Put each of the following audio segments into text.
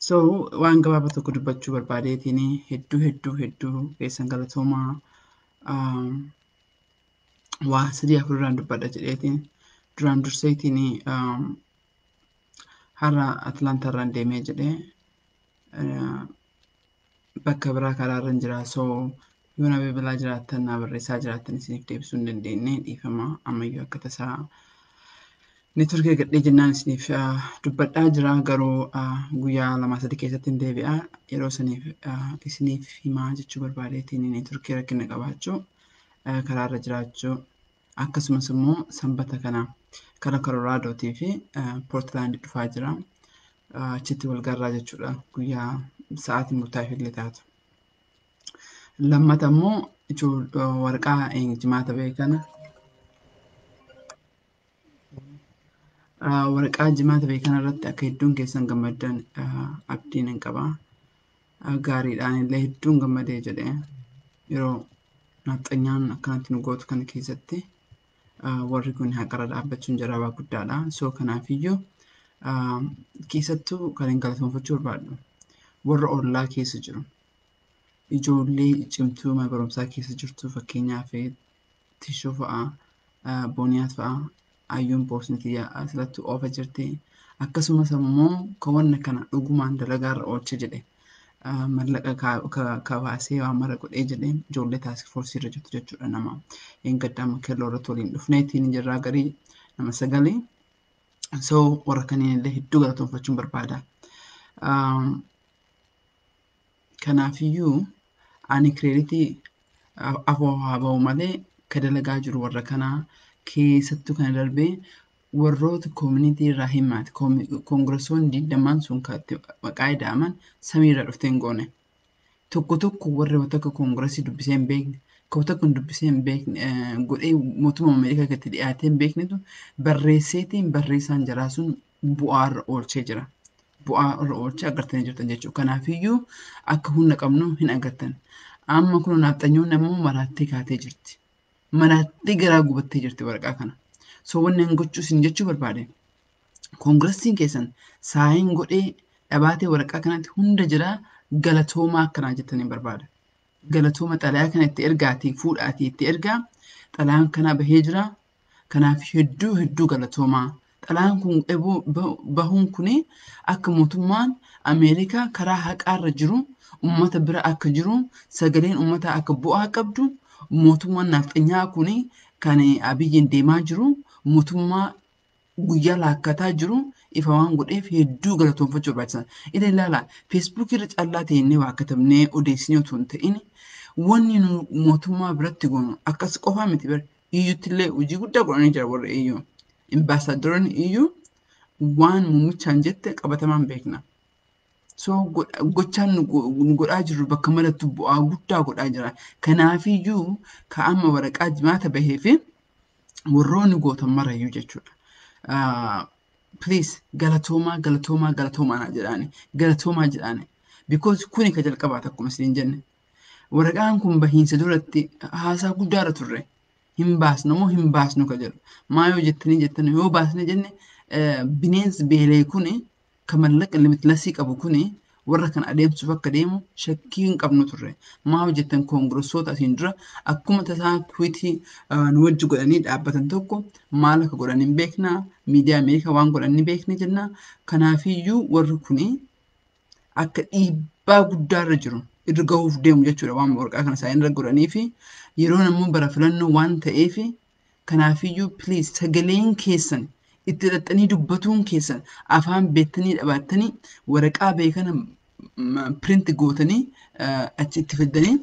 So waan gabaabaa tokko dubbachuu barbaadeetiin hedduu hedduu hedduu keessan galatoomaa um, waa sadii afurirraan dubbadha jedheetiin duraan durseetiin um, har'a Atlaantaarraan deemee jedhee uh, bakka biraa karaa irra hin jira so yoo na bilbilaa jiraattan na barreessaa jiraattan isiniif deebisuu hin dandeenye dhiifama ammayyuu akka tasaa network eegadhee jennaan isiniif dubbadhaa jira garuu guyyaa lamaa sadii keessatti hin deebi'a yeroo saniif isiniif himaa jechuu barbaadeetiin networkii rakkina qabaachuu karaarra jiraachuu akkasumas immoo sanbata kana kara koloraadootii fi poortilaandi dhufaa jira achitti wal garraa jechuudha guyyaa sa'aatii murtaa'eef illee taatu. Lammata immoo waraqaa jimaata ba'e kana waraqaa jimaata ba'e kana irratti akka hedduun keessan gammaddan abdiin hin qaba. gaariidha anillee hedduun gammadee jedhe yeroo naaxxanyaan akkanatti nu gootu kana keessatti warri kun haqarra dhaabbachuun jaraabaa guddaadha soo kanaafiyyuu keessattuu kan hin galatoonfachuu barbaadhu warra ollaa keessa jiru ijoollee cimtuu mana barumsaa keessa jirtu fakkeenyaaf tishuu fa'a booniyaat fa'a ayyuun poosni tiyya asirratti oofa jirti akkasumas ammoo kawanna kana dhugumaan dalagaarra oolcha jedhe mallaqa kabaasee waan mara godhee jedhe ijoollee taask foorsii irra jirtu jechuudha nama eeggadhaama kelloo irratti waliin dhufneetiin jirraa garii nama sagalee so warra kanneen illee hedduu galatoonfachuun barbaada. Kanaafiyyuu ani kireeditii afoo haa ba'u malee ka dalagaa jiru warra kanaa keessattuu kana darbee warroota koomunitii irraa himaati koongirasoonni digdamaan sun ka itti maqaa ida'aman samii irraa dhuftee hin goone. Tokko tokko warri wata akka koongirasii dubbisee hin beekne ka wata akka hin dubbisee hin beekne godhee mootummaa Ameerikaa gatti dhiyaatee hin beeknetu barreesseetiin barreessaan jaraa sun bu'aa irra oolchee jira. Bu'aa irra oolchee agartanii jirtan jechuudha. Kanaafiyyuu akka humna qabnu hin agartan. Amma kun naafxanyoonni ammoo maraattee kaatee jirti. Maraattee garaa gubattee jirti waraqaa kana. So wanni hin gochuu isin jechuu barbaade. Koongiressiin keessan saayiin godhee dhabaatee waraqaa kanatti hunda jiraa galatoomaa akkanaa jettanii barbaada. Galatooma xalayaa kana itti ergaatii fuudhaatii itti ergaa xalayaan kanaa bahee jira Kanaaf hedduu hedduu galatoomaa. Xalayaan kun bahuun kun akka mootummaan Ameerikaa karaa haqaarra jiru ummata bira akka jiru sagaleen ummataa akka bu'aa qabdu mootummaan naafxanyaa kun kan abiyyiin deemaa jiru mootummaa guyyaa laakkataa jiru ifa waan godheef hedduu galatoomfachuu barbaachisan. Ila ilaala feesbuukii irra callaa teennee waa katabnee odeessinee otoo hin ta'in wanni nu mootummaa biratti goonu akkas qofaa miti bar iyyutti illee hojii guddaa godhanii jira warri iyyuu. Imbaasaaddaroonni iyyuu waan muumichaan jette qabatamaan beekna. So gochaan nu godhaa jirru bakka marattu bu'aa guddaa godhaa jira. Kanaafiyyuu ka amma waraqaa jimaata bahee fi warroonni gootan marayyuu jechuudha. Please galatoomaa galatoomaa galatoomaa naa jedhaani galatoomaa jedhaani. Because kuni ka jalqabaati akkuma isin jenne. Waraqaan kun bahiinsa duratti haasaa guddaarra turre. Hin baasnu moo hin baasnu ka jedhu. Maa yoo jettanii jettan yoo baasne jenne bineensi beelee kuni Ka mallaqa limitlessii qabu kun warra kana adeemsuuf akka deemu shakkii hin qabnu turre. Maaf jettan koongirassoota asiin dura akkuma tasaa twiitii nu wajji godhanii dhaabbatan tokko maal akka godhan hin beekna, miidiyaa Ameerikaa waan godhan ni beekna jenna. Kanaafiyyuu warri kun akka dhiibbaa guddaarra jiru irra gahuuf deemu jechuudha waan waraqaa kana isaanii irra godhanii fi yeroon ammoo bara filannoo waan ta'eef Kanaafiyyuu please sagaleen keessan itti dhaxxanii dubbatuun keessan afaan beektanii dhabaattanii waraqaa ba'e kana print gootanii achi itti fiddanii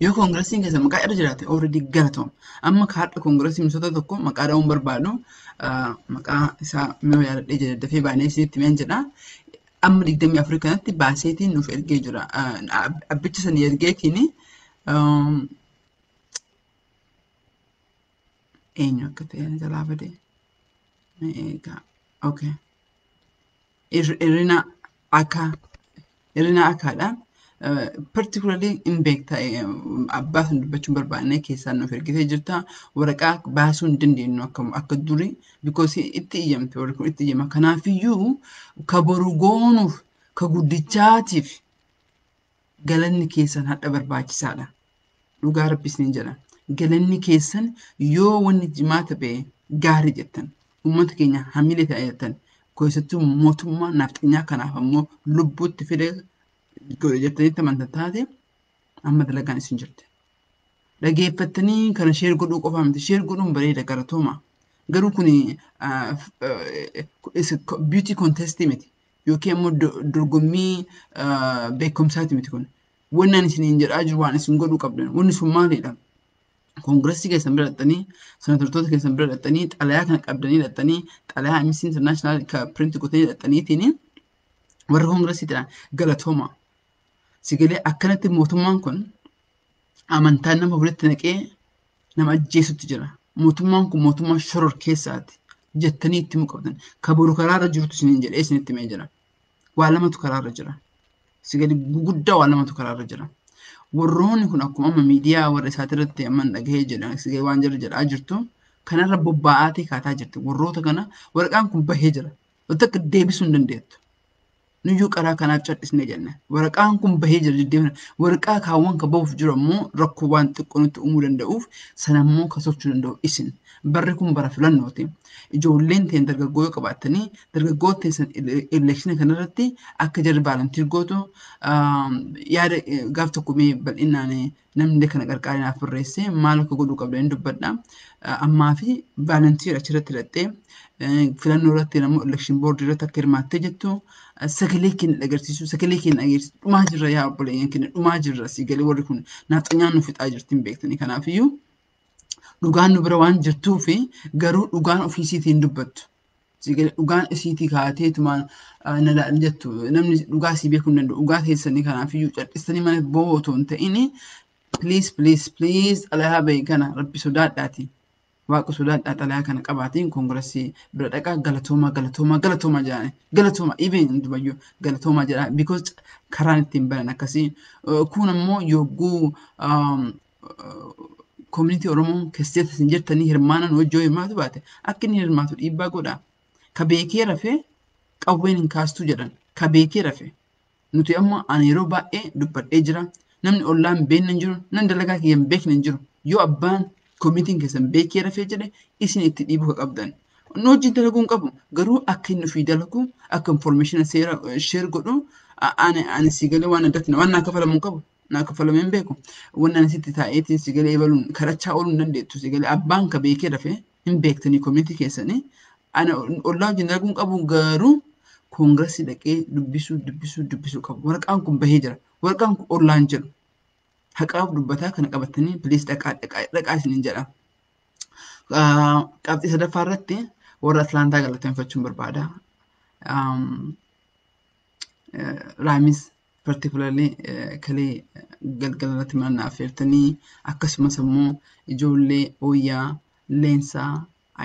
yoo koongirasiin keessan maqaa irra jiraate already galatoom amma kaardha koongirasii misoota tokko maqaa dha'uun barbaadu maqaa isaa yoo yaadadhee jedhe dafee baanee isinitti meen jedha amma digdamii afurii kanatti baaseetiin nuuf ergee jira abbicha sanii ergeetiin eenyu akka ta'e ani jalaa bade mee eegaa okay irrina akka irrina akkaadha particularly in beekta abbaa sun dubbachuun barbaanne keessaa nuuf ergitee jirta waraqaa baasuu hin dandeenyu akka akka durii because itti iyyamte warri kun itti iyyama kanaafiyyuu ka boru goonuuf ka guddichaatiif galanni keessan hadha barbaachisaadha. Dhugaa rabbi isiniin jedha. Galanni keessan yoo wanni jimaata ba'e gaari jettan. Uummata keenya hamilee ta'a jettan. Keessattuu mootummaa naafxanyaa kanaaf ammoo lubbuutti fide godhe jettanii tamantan taate amma dalagaan isin jirti. Dhageeffattanii kana sheer godhuu qofaa miti. Sheer godhuun bareeda garatooma. Garuu kun beauty contest miti. yookiin immoo do- dorgommii ah, beekumsaati miti kun. Wanni ani isiniin jedhaa jiru waan isin godhuu qabdan. Wanni sun maalidha? Koongiressii keessan bira dhaqxanii, senatartoota keessan bira dhaqxanii, xalayaa kana qabdanii dhaqxanii, xalayaa Amnesty International ka print godhanii dhaqxaniitiin warra koongiressiitiin galatooma. Sigalee akkanatti mootummaan kun amantaan nama walitti naqee nama ajjeesutti jira. Mootummaan kun mootummaa shoror keessaati jettanii itti himuu qabdan. Ka boru karaarra jirutu isiniin jedhee isinitti himee jira. Waa lamatu karaarra jira. Si gadi guguddaa waa lamatu karaarra jira. Warroonni kun akkuma amma miidiyaa warra isaati irratti amma hin dhagahee jedhan si gadi waan jira jedhaa jirtu kanarra bobbaa'aatee kaataa jirti. Warroota kana waraqaan kun bahee jira. Wanta akka deebisuu hin dandeettu. Nuyyuu karaa kanaa cal'isne jenne. Waraqaan kun bahee jira deddeebina. Waraqaa kaawwan ka bahuuf jiru ammoo rakkoo waan xiqqoo nutti uumuu danda'uuf sana immoo ka tolchuu danda'u isin. Barri kun bara filannooti. Ijoolleen teen dargaggoo yoo qabaattanii dargaggoon teessan eleekshina kanarratti akka jarri baalantiir gootu yaada gaaf tokko mee bal'inaan namni kana qarqaaree naaf barreessee maal akka godhuu qabda hin dubbadha. Ammaa fi vaalantiir achirratti hidhattee filannoo irratti namoo elekshin boordii irratti akka hirmaattee jettu sagalee keenya dhagarsiisuu sagalee keenya dhageessisu dhumaa jirra yaa obboleeyyan keenya dhumaa jirra si galee warri kun naaxanyaan nu fixaa jirti hin beektani kanaafiyyuu dhugaan nu bira waan jirtuu fi garuu dhugaan ofiisiitiin dubbattu Sigale dhugaan isiitii kaateetumaan na laal jettu namni dhugaa sii beekuu hin danda'u dhugaa keessanii kanaafiyyuu cadhistanii mana boo'u otoo hin ta'in please please please xalayaa bahe kana rabbi sodaadhaati waaqa sodaadhaa xalayaa kana qabaatiin koongirasii bira dhaqaa galatoomaa galatoomaa galatoomaa jedhani galatoomaa even dubayyuu galatoomaa jedhaa because karaan ittiin banan akkasii kuun ammoo yogguu koominitii Oromoo keessatti isin jirtanii hirmaanan hojii yoo hirmaatu baate akka inni hirmaatu dhiibbaa godhaa. Ka beekee rafee qawween hin kaastuu jedhan ka beekee rafee. Nuti amma ani yeroo baay'ee dubbadhee jira. Namni ollaan beekne hin jiru, namni dalagaa kiyya hin beekne hin jiru. Yoo abbaan koominitiin keessan beekee rafee jedhe isin itti dhiibuu ka qabdan. Nu wajjin dalaguu hin qabu. Garuu akka inni ofii dalagu, akka informeeshina seera sheer godhu ani si galee waan addatti waan naa kafalamu hin qabu. naa kaffalamee hin beeku wanni ani sitti taa'eetiin si galee ebaluun kadhachaa ooluu hin dandeettu si galee abbaan ka beekee dafee hin beektanii komiitii keessanii ana ollaa wajjin dalaguu hin qabu garuu koongirasii dhaqee dubbisuu dubbisuu dubbisuu qabu waraqaan kun bahee jira waraqaan kun ollaan jedhu haqaaf dubbataa kana qabatanii piliis dhaqaa dhaqaa dhaqaa isiniin jedha. Qabxii sadaffaa irratti warra Atlaantaa galateeffachuun barbaada. Raamis particularly kalee galgala irratti mana naaf feertanii akkasumas immoo ijoollee ooyyaa leensaa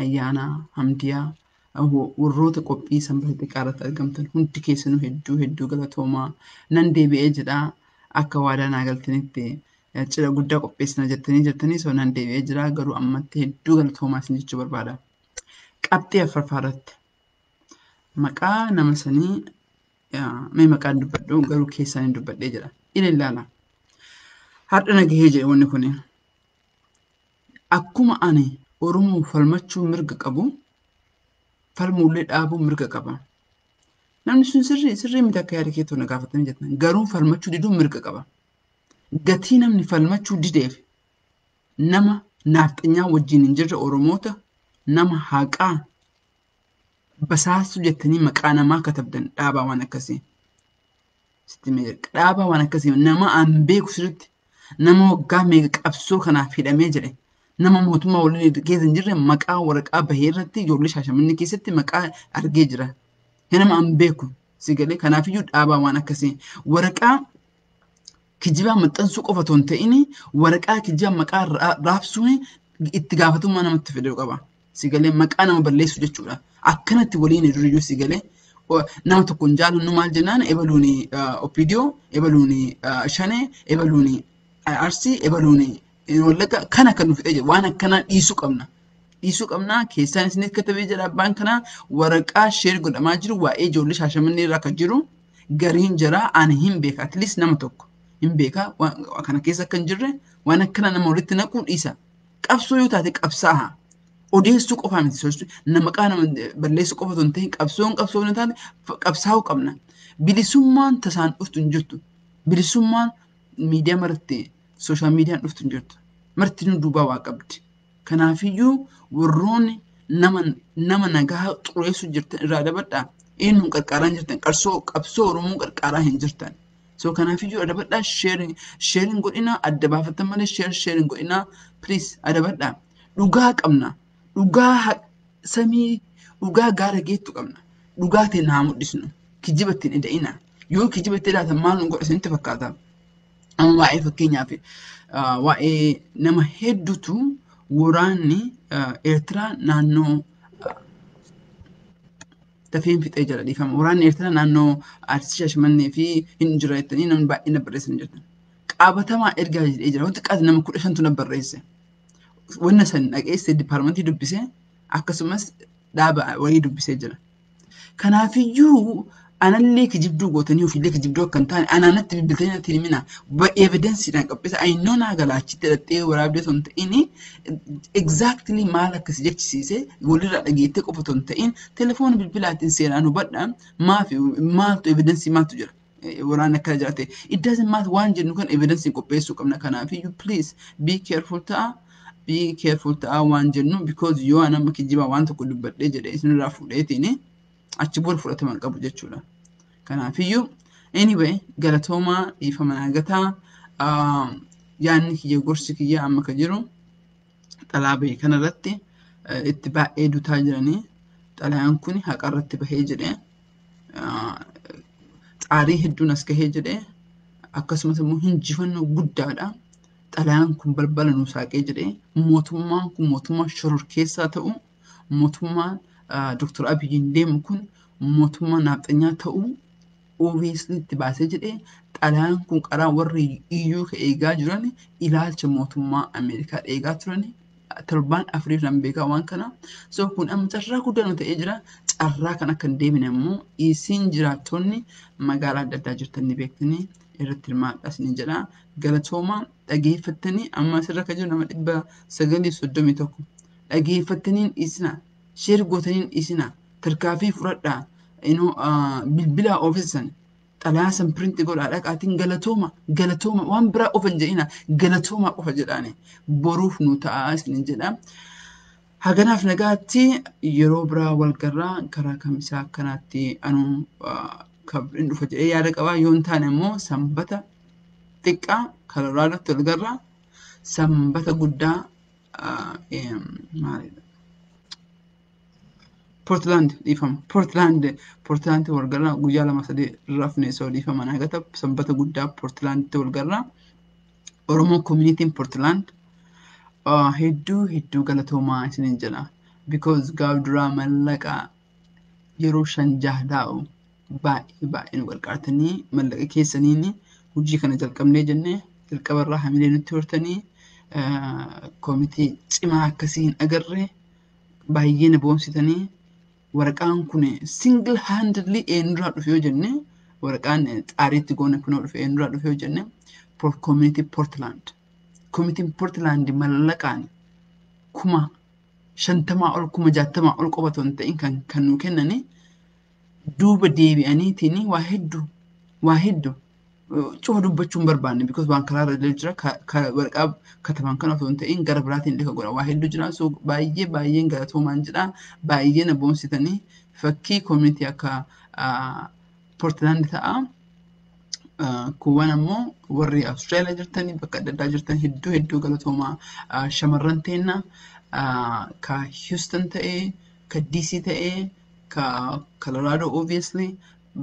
ayyaanaa hamdiyaa warroota qophii sanbata xiqqaa irratti argamtan hundi keessanuu hedduu hedduu galatoomaa nan deebi'ee jedha akka waadaa naa galtanitti cidha guddaa qopheessina jettanii jirtanii soo nan deebi'ee jira garuu ammatti hedduu galatoomaa isin jechuu barbaada. Qabxii afraffaa irratti maqaa nama sanii mee maqaan dubbadhu garuu keessaan hin dubbadhee jedha ila ilaala har'a nagahee jedhe wanni kun akkuma ani oromoo falmachuu mirga qabu falmuullee dhaabuu mirga qaba namni sun sirrii sirrii miti akka yaada keetuu na gaafatanii jettan garuu falmachuu diduu mirga qaba gatii namni falmachuu dideef nama naafxanyaa wajjin hin jirre oromoota nama haqaa Basaastuu jettanii maqaa namaa katabdan dhaabaa waan akkasii. Sitti mee jedhe dhaabaa waan akkasii nama an beeku sirriitti nama waggaa meeqa qabsoo kanaaf hidhamee jedhe nama mootummaa waliin keessa hin jirre maqaa waraqaa bahee irratti ijoollee shaashamannee keessatti maqaa argee jira. Nama an beeku si galee kanaafiyyuu dhaabaa waan akkasii waraqaa kijibaa maxxansuu qofa otoo hin ta'in waraqaa kijibaa maqaa raabsuun itti gaafatamummaa namatti fiduu qaba. Sigalee maqaa nama balleessu jechuudha. Akkanatti waliin duriyyuu sigalee nama tokko hin jaallannu maal jennaan ebaluun opidiyoo ebaluun shanee ebaluun arsii ebaluun wallagga kan akka nu fixee jiru waan akkanaa dhiisuu qabna. Dhiisuu qabna keessaan isiniif katabee jira abbaan kanaa waraqaa sheer godhamaa jiru waa'ee ijoollee shaashamannee irra akka jiru gariin jaraa ani hin beeka at least nama tokko hin beeka waan kana keessa akka hin jirre waan akkana nama walitti naquu dhiisa qabsoo yoo taate qabsaa'a odeessuu qofaa miti sochii nama maqaa nama balleessuu qofa osoo hin ta'in qabsoon qabsoo hin taane qabsaa'uu qabna bilisummaan tasaan dhuftu hin jirtu bilisummaan miidiyaa marti sooshaal miidiyaan dhuftu hin jirtu marti nu duubaa waa qabdi. Kanaafiyyuu warroonni nama nama nagaha xureessuu jirtan irraa dabadhaa eenyuun qarqaaraa hin jirtan qarsoo qabsoo Oromoo qarqaaraa hin jirtan. So kanaafiyyuu adabadhaa sheerin sheerin godhinaa adda baafatan malee sheer sheerin godhinaa please adabadhaa. Dhugaa qabna dhugaa ha- samii dhugaa gaara geettu qabna dhugaa ta'e naa mul'isnu kijiba ittiin eda'ina yoo kijiba itti edaatan maal nu godha isinitti fakkaata. Amma waa'ee fakkeenyaaf waa'ee nama hedduutu waraanni Eertiraa naannoo dafeen fixee jira dhiifama. Waraanni Eertiraa naannoo Arsii Shaashmannee fi hin jira jettanii namni baay'een barreessan jirtan. Qaabatamaa ergaa jedhee jira. Wanti qaati nama kudha shantu na barreesse. Wanna san dhaggeessee dipaarmentii dubbisee akkasumas dhaaba wayii dubbisee jira. Kanaafiyyuu anallee kijibduu gootanii ofiillee kijibduu akka hin taane anaanatti bilbiltanii natti himina. Evidensiidhaan qaphisa ayinnoo naa galaachitti dhaxxee waraabdee osoo hin ta'in exactly maal akka si jechisiise walirraa dhageettee qofa osoo hin ta'in telefoona bilbilaatiin seeraan hubadha maaf maaltu evidensii maaltu jira. waraanni akka jiraate it doesn't matter waan jennu kan evidence qopheessuu qabna kanaaf iyyuu please be careful ta'a be careful ta'a waan jennu because yoo an amma kijibaa waan tokko dubbadhee jedhe isinirraa fuudheetiin achi booda fudhatama hin qabu jechuudha kanaaf iyyuu anyway galatoomaa dhiifama naagataa yaanni kiyya gorsi kiyya amma ka jiru xalaa bahe kana irratti itti baay'ee dutaa jiranii xalayaan kun haqa irratti bahee jedhe xaarii hedduun as gahee jedhe akkasumas immoo hinjifannoo guddaadha xalayaan kun balbala nu saaqee jedhe mootummaan kun mootummaa shororkeessaa ta'u mootummaan Dr. Abiyyiin deemu kun mootummaa naafxanyaa ta'uu OBSn itti baasee jedhe xalayaan kun qaraa warri EU ka eegaa jiran ilaalcha mootummaa Ameerikaa eegaa turan torbaan afuriif nan beekaa waan kana so kun amma carraa guddaa nu ta'ee jira carraa kan akka hin deebine immoo isin jiraattonni magaalaa adda addaa jirtan ni beektanii irratti hirmaadhaa isin jedha galatooma dhageeffattanii amma asirra kan jiru nama dhibba sagalii soddomii tokko dhageeffattaniin dhiisina share gootaniin dhiisina tarkaafii fudhadhaa inoo bilbilaa oofessan xalaa san printi godhaa dhaqaatiin galatooma galatooma waan biraa qofa hin jedhina galatooma qofa jedhaani boruuf nu ta'aa isinin jedha haganaaf nagaatti yeroo biraa wal garraa karaa kamisaa akkanaatti anuu kabrin dhufa jedhee yaada qabaa yoo hin taane immoo sanbata xiqqaa kararaa irratti wal garraa sanbata guddaa Portland dhiifama. Portland Portland walgarraa guyyaa lama sadii rafne soo dhiifama naa gata sanbata guddaa Portlanditti walgarraa Oromoo communitiin Portland hedduu hedduu galatoomaa isiniin jedha because gaaf duraa mallaqa yeroo shan jaha taa'u baay'ee baay'ee nu gargaartanii mallaqa keessaniin hojii kana jalqabnee jennee jalqaba irraa hamilee nutti hortanii koomitii cimaa akkasii hin agarre baay'ee na boonsitanii waraqaan kun single handedly eenyurraa dhufe yoo jenne waraqaan xaariitti goone kunoo dhufe eenyurraa dhufe yoo jenne koomitii Portland koomitiin Portland mallaqaan kuma shantamaa ol kuma jaatamaa ol qofa otoo hin ta'in kan kan nuu kennanii duuba deebi'aniitiin waa heddu waa heddu cufa dubbachuu hin barbaanne because waan karaa irra illee jira ka- ka waraqaa kataban kana osoo hin ta'in gara biraatiin illee ka godhan waa heddu jira so baay'ee baay'een galatoomaan jedha baay'ee na boonsitanii fakkii community akka ah, Portland ta'a. Ah, Kuuwwan ammoo warri Awustiraaliyaa jirtan bakka adda addaa jirtan hedduu hedduu galatoomaa Ah, shamarran teenna ah, ka Houston ta'ee ka DC ta'ee ka Colorado obviously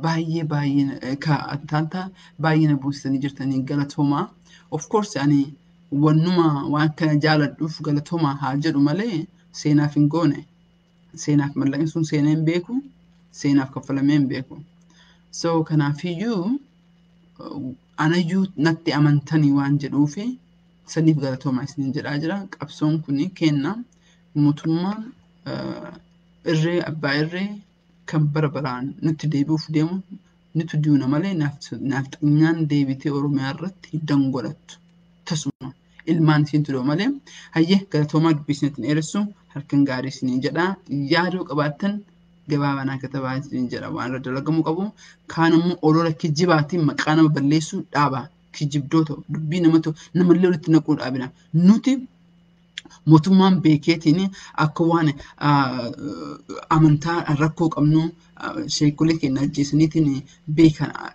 baay'ee baay'ee ka Atlanta baay'ee na buusanii jirtanii galatoomaa. Of course ani wannuma waan kana jaaladhuuf galatoomaa haa jedhu malee seenaaf hin goone. Seenaaf mallaqni sun seenee hin beeku. Seenaaf kaffalamee hin beeku. So kanaafiyyuu anayyuu natti amantanii waan jedhuufi saniif galatoomaa isiniin jedhaa jira. Qabsoon kun kenna. Mootummaan irree abbaa irree kan bara baraan nutti deebi'uuf deemu nitu duuna malee naafxanyaan deebitee Oromiyaa irratti hin dangolattu. Tasuma ilmaan isiintu doo malee hayyee galatoomaa dubbiisneetti hin dheeressu halkan gaarii isiniin jedha yaadoo qabaattan gabaabanaa katabaa isiniin jedha waan irra dalagamuu qabu kaan ammoo olola kijibaatiin maqaa nama balleessuu dhaaba kijibdoota dubbii namatu namallee walitti naquu dhaabina nuti mootummaan beekeetiin akka waan amantaa rakkoo qabnu sheekolee keenya ajjeesaniitiin beekan